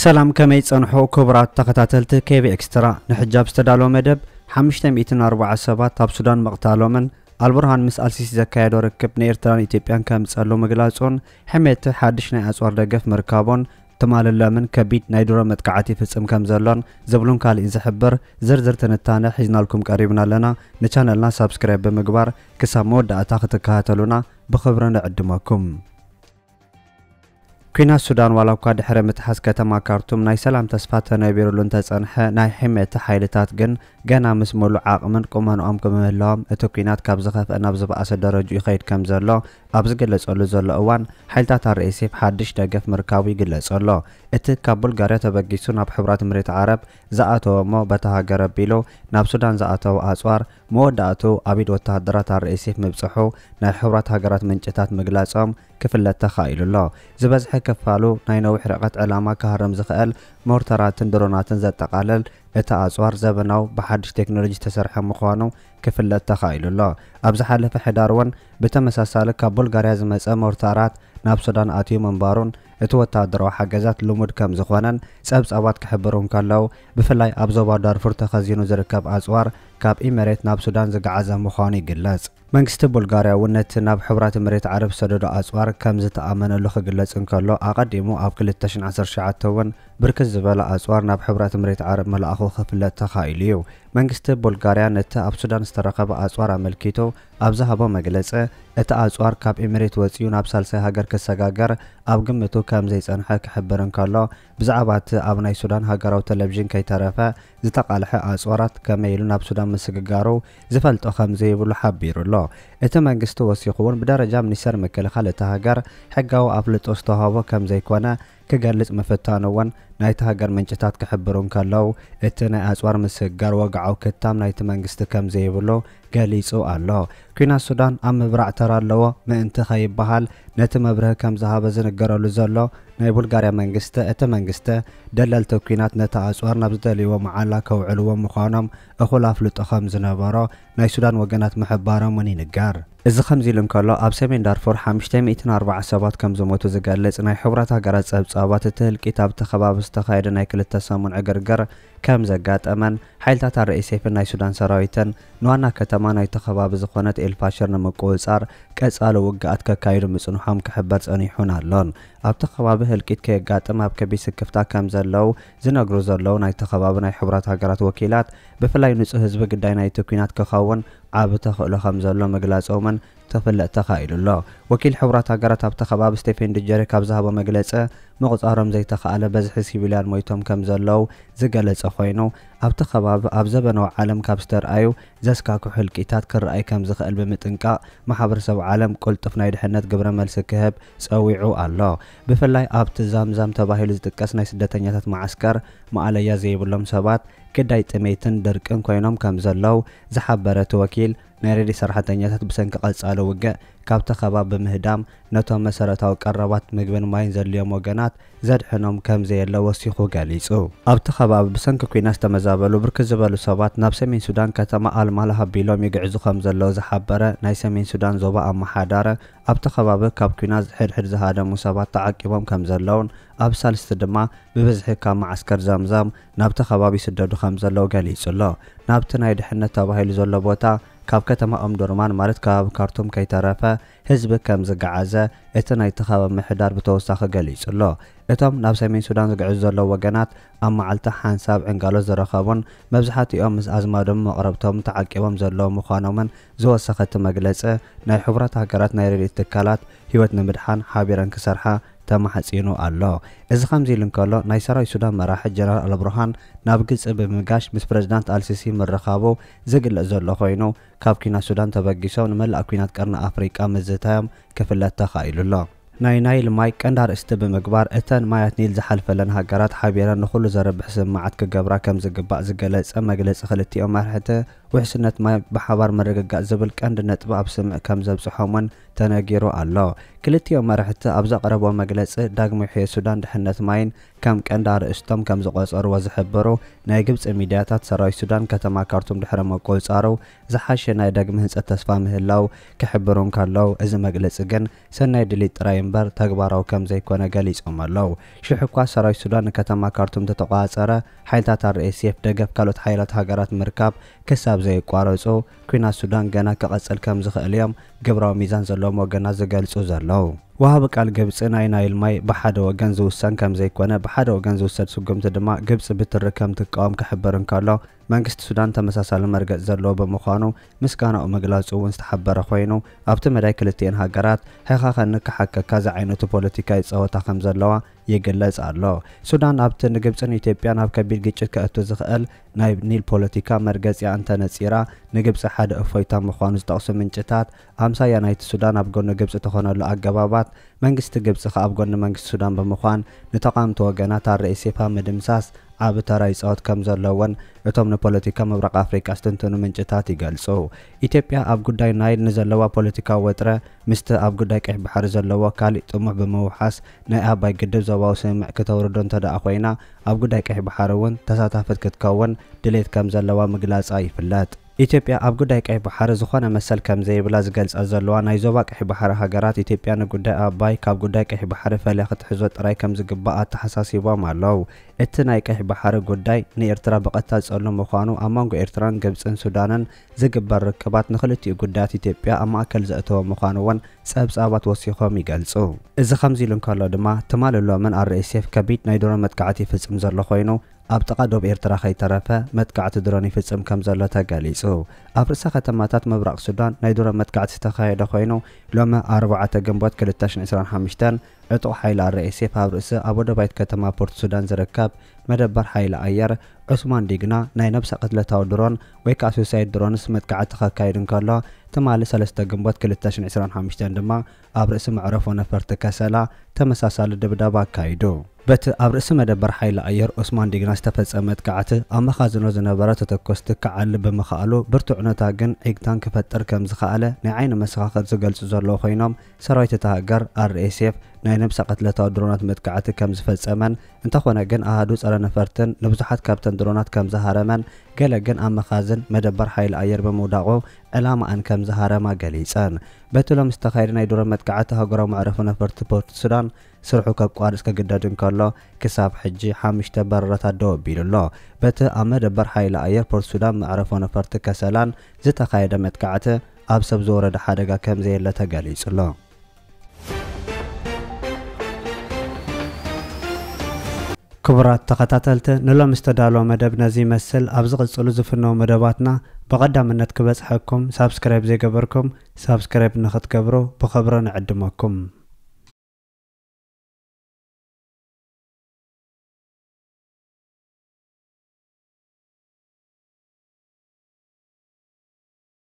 ሰላም ከመይ ጸንሑ ክቡራት ተኸታተልቲ ኬቢ ኤክስትራ ንሕጂ ኣብ ዝተዳለወ መደብ 540 ሰባት ኣብ ሱዳን ምቕታሎምን ኣልቡርሃን ምስ ኣልሲሲ ዘካየዶ ርክብ ንኤርትራን ኢትዮጵያን ከምጸሉ ምግላጹን ሕሜቲ ሓድሽ ናይ ኣጽዋር ደገፍ ምርካቦን ትማልን ሎምን ከቢድ ናይ ድሮን መጥቃዕት ይፍጽም ከም ዘሎን ዝብሉን ካሊእ ዝሕብር ዝርዝር ትንታነ ሒዝናልኩም ቀሪብና ኣለና። ንቻነልና ሳብስክራይብ ብምግባር ክሳብ መወዳእታ ክትከታተሉና ብኽብሪ ንዕድመኩም። ኲናት ሱዳን ዋላኳ ድሕሪ ምትሓዝ ከተማ ካርቱም ናይ ሰላም ተስፋ ተነቢሩሉ እንተጸንሐ ናይ ሒሜቲ ሓይልታት ግን ገና ምስ ምሉእ ዓቕምን ቁመንኦም ብምህላዎም እቲ ኲናት ካብ ዝኸፍኣ ናብ ዝበኣሰ ደረጅኡ ይኸይድ ከም ዘሎ ኣብ ዝገለጸሉ ዘሎ እዋን፣ ሓይልታት ኣርኤስኤፍ ሓድሽ ደገፍ ምርካቡ ይግለጽ ኣሎ። እቲ ካብ ቡልጋርያ ተበጊሱ ናብ ሕቡራት እምሬት ዓረብ ዝኣተወ እሞ በታ ሃገር ኣቢሉ ናብ ሱዳን ዝኣተወ ኣጽዋር፣ መወዳእትኡ ኣብ ኢድ ወተሃደራት ኣርኤስኤፍ ምብጽሑ ናይ ሕቡራት ሃገራት ምንጭታት ምግላጾም ክፍለጥ ተኻኢሉ ኣሎ። ዝበዝሐ ክፋሉ ናይ ነዊሕ ርሕቀት ዕላማ ክሃርም ዝኽእል ሞርተራትን ድሮናትን ዘጠቓልል እቲ ኣጽዋር፣ ዘበናዊ ብሓድሽ ቴክኖሎጂ ዝተሰርሐ ምዃኑ ክፍለጥ ተኻኢሉ ኣሎ። ኣብ ዝሓለፈ ሕዳር'ውን፣ ብተመሳሳሊ ካብ ቡልጋርያ ዝመጸ ሞርታራት ናብ ሱዳን ኣትዩ ምንባሩን እቲ ወተሃደራዊ ሓገዛት ልሙድ ከም ዝኾነን ጸብጻባት ክሕብሩ እንከለው፣ ብፍላይ ኣብ ዞባ ዳርፉር ተኸዚኑ ዝርከብ ኣጽዋር ካብ ኢመሬት ናብ ሱዳን ዝገዓዘ ምዃኑ ይግለጽ። መንግስቲ ቡልጋርያ እውን ነቲ ናብ ሕቡራት ኢመሬት ዓረብ ዝሰደዶ ኣጽዋር ከም ዝተኣመነሉ ክግለጽ እንከሎ፣ ኣቐዲሙ ኣብ ክልተ ሽሕን ዓሰርተ ትሽዓተ እውን ብርክት ዝበለ ኣጽዋር ናብ ሕቡራት ኢመሬት ዓረብ ምልኣኹ ክፍለጥ ተኻኢሉ እዩ። መንግስቲ ቡልጋርያ ነቲ ኣብ ሱዳን ዝተረኸበ ኣጽዋር ኣመልኪቱ፣ ኣብ ዝሃቦ መግለጸ፣ እቲ ኣጽዋር ካብ ኤሚሬት ወጺኡ ናብ ሳልሳይ ሃገር ክሰጋገር ኣብ ግምቱ ከም ዘይጸንሐ ክሕብር እንከሎ፣ ብዛዕባ እቲ ኣብ ናይ ሱዳን ሃገራዊ ተለቪዥን ከይተረፈ ዝተቓልሐ ኣጽዋራት ከመይ ኢሉ ናብ ሱዳን ምስግጋሩ ዝፈልጦ ከም ዘይብሉ ሓቢሩ ኣሎ። እቲ መንግስቲ ወሲኹ'ውን ብደረጃ ሚኒስተር ምክልኻል እታ ሃገር ሕጋዊ ኣፍልጦ ዝተዋህቦ ከም ዘይኮነ ክገልጽ ምፍታኑ'ውን ናይታ ሃገር ምንጭታት ክሕብሩ እንከለው፣ እቲ ናይ ኣጽዋር ምስግጋር ወግዓዊ ክታም ናይቲ መንግስቲ ከም ዘይብሉ ገሊጹ ኣሎ። ኲናት ሱዳን ኣብ ምብራዕ ተራ ኣለዎ ምእንቲ ከይበሃል ነቲ መብርሂ ከም ዝሃበ ዝንገረሉ ዘሎ ናይ ቡልጋርያ መንግስቲ፣ እቲ መንግስቲ ደለልቲ ኲናት ነቲ ኣጽዋር ናብ ዝደልይዎ መዓላ ከውዕልዎ ምዃኖም እኹል ኣፍልጦ ከም ዝነበሮ ናይ ሱዳን ወገናት ምሕባሮም'ውን ይንገር። እዚ ከምዚ ኢሉ እንከሎ፣ ኣብ ሰሜን ዳርፉር ሓምሽተ ሚእትን ኣርባዓን ሰባት ከም ዝሞቱ ዝገልጽ ናይ ሕቡራት ሃገራት ጸብጻባት፣ እቲ ህልቂት ኣብቲ ከባቢ ዝተኻየደ ናይ ክልተ ሰሙን ዕግርግር ከም ዘጋጠመን፣ ሓይልታት ኣርኤስኤፍን ናይ ሱዳን ሰራዊትን ንዋና ከተማ ናይቲ ከባቢ ዝኾነት ኤልፋሽር ንምቁጽጻር ቀጻሊ ውግኣት ከካይዱ ምጽንሖም ክሕበር ጸኒሑን ኣሎን። ኣብቲ ከባቢ ህልቂት ከየጋጥም ኣብ ከቢድ ስክፍታ ከም ዘለዉ ዝነግሩ ዘለዉ ናይቲ ከባቢ ናይ ሕቡራት ሃገራት ወኪላት ብፍላይ ንፁህ ህዝቢ ግዳይ ናይቲ ኲናት ክኸውን ዓቢ ተኽእሎ ከምዘሎ ምግላፆምን ክፍለጥ ተኻኢሉ ኣሎ። ወኪል ሕቡራት ሃገራት ኣብቲ ከባቢ ስቴፌን ዱጀሪክ ኣብ ዝሃቦ መግለፂ ምቑፃሮም ዘይተኽኣለ በዝሒ ሲቪልያን ሞይቶም ከምዘለዉ ዝገለፀ ኮይኑ ኣብቲ ከባቢ ኣብ ዘበነዊ ዓለም ካብ ዝተርኣዩ ዘስካክሑ ህልቂታት ክርኣይ ከም ዝኽእል ብምጥንቃቕ፣ ማሕበረሰብ ዓለም ቅልጡፍ ናይ ድሕነት ግብረ መልሲ ክህብ ጸዊዑ ኣሎ። ብፍላይ ኣብቲ ዛምዛም ተባሂሉ ዝጥቀስ ናይ ስደተኛታት መዓስከር፣ ማእለያ ዘይብሎም ሰባት ግዳይ ጥሜትን ድርቅን ኮይኖም ከም ዘለዉ ዝሓበረ እቲ ወኪል፣ ናይ ረድኤት ሰራሕተኛታት ብሰንኪ ቀጻሊ ውግእ ካብቲ ከባቢ ብምህዳም፣ ነቶም መሰረታዊ ቀረባት ምግብን ማይን ዘድልዮም ወገናት ዘድሕኖም ከምዘየለ ወሲኹ ገሊጹ። ኣብቲ ከባቢ ብሰንኪ ኲናት ዝተመዛበሉ ብርክት ዝበሉ ሰባት ናብ ሰሜን ሱዳን ከተማ ኣል ማላህ ኣቢሎም ይግዕዙ ከምዘለዉ ዝሓበረ ናይ ሰሜን ሱዳን ዞባ ኣመሓዳረ ኣብቲ ከባቢ ካብ ኲናት ሕድሕድ ዝሃደሙ ሰባት ተዓቂቦም ከምዘለዉን ኣብ ሳልስቲ ድማ ብብዝሒ ካብ መዓስከር ዘምዘም ናብቲ ከባቢ ይስደዱ ከምዘለዉ ገሊጹ'ሎ። ናብቲ ናይ ድሕነት ተባሂሉ ዘሎ ቦታ ካብ ከተማ ኡምዱርማን ማለት ከባቢ ካርቱም ከይተረፈ ህዝቢ ከም ዝገዓዘ እቲ ናይቲ ከባቢ ምሕዳር ብተወሳኺ ገሊጹ ኣሎ። እቶም ናብ ሰሜን ሱዳን ዝግዕዙ ዘለዉ ወገናት ኣብ መዓልቲ ሓንሳብ ዕንጋሎት ዝረኸቡን መብዛሕቲኦም ምስ ኣዝማዶምን መቕረብቶምን ተዓቂቦም ዘለዉ ምዃኖምን ዝወሰኸ እቲ መግለጺ ናይ ሕቡራት ሃገራት ናይ ረድኤት ትካላት ህይወት ንምድሓን ሓቢረን ክሰርሓ ተማሕጺኑ ኣሎ። እዚ ከምዚ ኢሉ እንከሎ ናይ ሰራዊት ሱዳን መራሒ ጀነራል ኣልቡርሃን ናብ ግብጺ ብምምጋሽ ምስ ፕረዚዳንት ኣልሲሲ ምርኻቡ ዝግለጽ ዘሎ ኮይኑ ካብ ኲናት ሱዳን ተበጊሶም ንመላእ ኲናት ቀርኒ ኣፍሪቃ ምዝታዮም ክፍለጥ ተኻኢሉ ኣሎ። ናይ ናይል ማይ ቀንዲ ኣርእስቲ ብምግባር፣ እተን ማያት ኒል ዝሓልፈለን ሃገራት ሓቢረን ንኹሉ ዘርብሕ ስምምዓት ክገብራ ከምዝግባእ ዝገለጸ መግለጺ ክልቲኦም መራሕቲ፣ ውሕስነት ማይ ብሓባር ምርግጋጽ ዝብል ቀንዲ ነጥቢ ኣብ ስምምዕ ከምዘብጽሖም'ውን ተነጊሩ ኣሎ። ክልቲኦም መራሕቲ ኣብ ዘቕረብዎ መግለጺ፣ ዳግመ-ውሕየት ሱዳን ድሕነት ማይን፣ ከም ቀንዲ ኣርእስቶም ከም ዝቖጸርዎ ዝሕብሩ ናይ ግብጺ ሚድያታት፣ ሰራዊት ሱዳን ከተማ ካርቱም ድሕሪ ምቁጽጻሩ ዝሓሸ ናይ ዳግመ ህንጸት ተስፋ ምህላው ክሕብሩ እንከለው፣ እዚ መግለጺ ግን ሰናይ ድሌት ጥራይ እምበር ተግባራዊ ከም ዘይኮነ ገሊጾም ኣለው። ሽሕ'ኳ ሰራዊት ሱዳን ንከተማ ካርቱም እንተተቖጻጸረ፣ ሓይልታት RSF ደገፍ ካልኦት ሓያላት ሃገራት ምርካብ ክሳብ ዘየቋረጹ፣ ኲናት ሱዳን ገና ክቕጽል ከም ዝኽእል እዮም ግብራዊ ሚዛን ዘለዎም ወገናት ዝገልጹ ዘለዉ። ወሃቢ ቃል ግብጺ ናይ ናይል ማይ ብሓደ ወገን ዝውሰን ከም ዘይኮነ፣ ብሓደ ወገን ዝውሰድ ስጉምቲ ድማ ግብጺ ብትሪ ከም ትቃወም ክሕብር እንከሎ፣ መንግስቲ ሱዳን ተመሳሳሊ መርገጽ ዘለዎ ብምዃኑ ምስጋናኡ ምግላጹ'ውን ዝተሓበረ ኮይኑ፣ ኣብቲ መዳይ ክልቲኤን ሃገራት ሕኸኸኒ ክሓከካ ዝዓይነቱ ፖለቲካ ይጻወታ ከም ዘለዋ ይግለጽ ኣሎ። ሱዳን ኣብቲ ንግብጽን ኢትዮጵያን ኣብ ከቢድ ግጭት ከእቱ ዝኽእል ናይ ኒል ፖለቲካ መርገጺኣ እንተ ነጺራ፣ ንግብጺ ሓደ እፎይታ ምዃኑ ዝጠቕሱ ምንጭታት፣ ኣምሳያ ናይቲ ሱዳን ኣብ ጎኒ ግብጺ ትኾነሉ ኣገባባት፣ መንግስቲ ግብጺ ከኣ ኣብ ጎኒ መንግስቲ ሱዳን ብምዃን ንተቓምቲ ወገናት RSF ኣብ ምድምሳስ ዓቢ ተራ ይጻወት ከም ዘሎ'ውን እቶም ንፖለቲካ ምብራቕ ኣፍሪቃ ዝትንትኑ ምንጭታት ይገልጹ። ኢትዮጵያ ኣብ ጉዳይ ናይል ንዘለዋ ፖለቲካዊ ወጥረ ምስቲ ኣብ ጉዳይ ቀይሕ ባሕሪ ዘለዎ ካሊእ ጥሙሕ ብምውሓስ ናይ ኣባይ ግድብ ዞባዊ ስምምዕ ክተውርዶ እንተድኣ ኮይና ኣብ ጉዳይ ቀይሕ ባሕሪ እውን ተሳታፍት ክትከውን ድሌት ከም ዘለዋ ምግላጻ ይፍለጥ። ኢትዮጵያ ኣብ ጉዳይ ቀይሕ ባሕሪ ዝኾነ መሰል ከም ዘይብላ ዝገልጻ ዘለዋ ናይ ዞባ ቀይሕ ባሕሪ ሃገራት ኢትዮጵያ ንጉዳይ ኣባይ ካብ ጉዳይ ቀይሕ ባሕሪ ፈልያ ክትሕዞ ጥራይ ከም ዝግባእ ኣተሓሳሲቦም ኣለው። እቲ ናይ ቀይሕ ባሕሪ ጉዳይ ንኤርትራ ብቐጥታ ዝጸሉ ምዃኑ ኣብ መንጎ ኤርትራን ግብጽን ሱዳንን ዝግበር ርክባት ንክልቲኡ ጉዳያት ኢትዮጵያ ኣብ ማእከል ዘእተወ ምዃኑ'ውን ጸብጻባት ወሲኾም ይገልጹ። እዚ ከምዚ ኢሉ እንከሎ ድማ፣ ትማልን ሎምን RSF ከቢድ ናይ ድሮን መጥቃዕቲ ይፍጽም ዘሎ ኮይኑ፣ ኣብ ጥቓ ዶብ ኤርትራ ከይተረፈ መጥቃዕቲ ድሮን ይፍጽም ከምዘሎ ተገሊጹ። ኣብ ርእሰ ከተማታት ምብራቕ ሱዳን ናይ ድሮን መጥቃዕቲ ዝተኻየደ ኮይኑ፣ ሎሚ ኣርባዕተ ግንቦት ክልተ ሽሕን ዕስራን ሓምሽተን፣ ዕጡቕ ሓይሊ RSF ኣብ ርእሰ ኣብ ወደባይት ከተማ ፖርት ሱዳን ዝርከብ መደበር ሓይሊ ኣየር ዑስማን ዲግና ናይ ነብሰ ቅትለታዊ ድሮን ወይ ከኣ ሱይሳይድ ድሮንስ መጥቃዕቲ ከካይድ እንከሎ ትማሊ ሰለስተ ግንቦት ክልተ ሽሕን ዕስራን ሓሙሽተን ድማ ኣብ ርእሲ መዕረፎ ነፈርቲ ከሰላ ተመሳሳሊ ድብደባ ኣካይዱ። በቲ ኣብ ርእሲ መደበር ሓይሊ ኣየር ዑስማን ዲግና ዝተፈጸመ መጥቃዕቲ ኣብ መኻዝኖ ዝነበረ ተተኮስቲ ክዓሊ ብምኽኣሉ ብርቱዕ ዑነታት ግን ዒግታን ክፈጥር ከምዝኸኣለ ናይ ዓይኒ መሰኻኽር ዝገልጹ ዘለዉ ኮይኖም ሰራዊት እታ ሃገር፣ RSF፣ ናይ ነብሰ ቅትለታዊ ድሮናት መጥቃዕቲ ከም ዝፈጸመን፣ እንተኾነ ግን ኣሃዱ ጸረ ነፈርትን ንብዙሓት ካብተን ድሮናት ከም ዝሃረመን፣ ገለ ግን ኣብ መኻዝን መደበር ሓይሊ ኣየር ብምውዳቑ ዕላማኣን ከም ዝሃረማ ገሊጸን። በቲ ሎሚ ዝተኻየደ ናይ ድሮን መጥቃዕቲ ኣህጉራዊ መዕረፎ ነፈርቲ ፖርት ሱዳን ስርሑ ከቋርጽ ክግደድ እንከሎ፣ ክሳብ ሕጂ ሓምሽተ በረራታት ደው ኣቢሉ ኣሎ። በቲ ኣብ መደበር ሓይሊ ኣየር ፖርት ሱዳን መዕረፎ ነፈርቲ ከሰላን ዝተኻየደ መጥቃዕቲ፣ ኣብ ሰብ ዝወረደ ሓደጋ ከምዘየለ ተገሊጹ'ሎ። ክቡራት ተኸታተልቲ ንሎሚ ዝተዳለወ መደብ ነዚ ይመስል፣ ኣብ ዝቕጽሉ ዝፍነዉ መደባትና ብቐዳምነት ክበጽሐኩም ሳብስክራይብ ዘይገበርኩም ሳብስክራይብ ንኽትገብሩ ብኽብሪ ንዕድመኩም።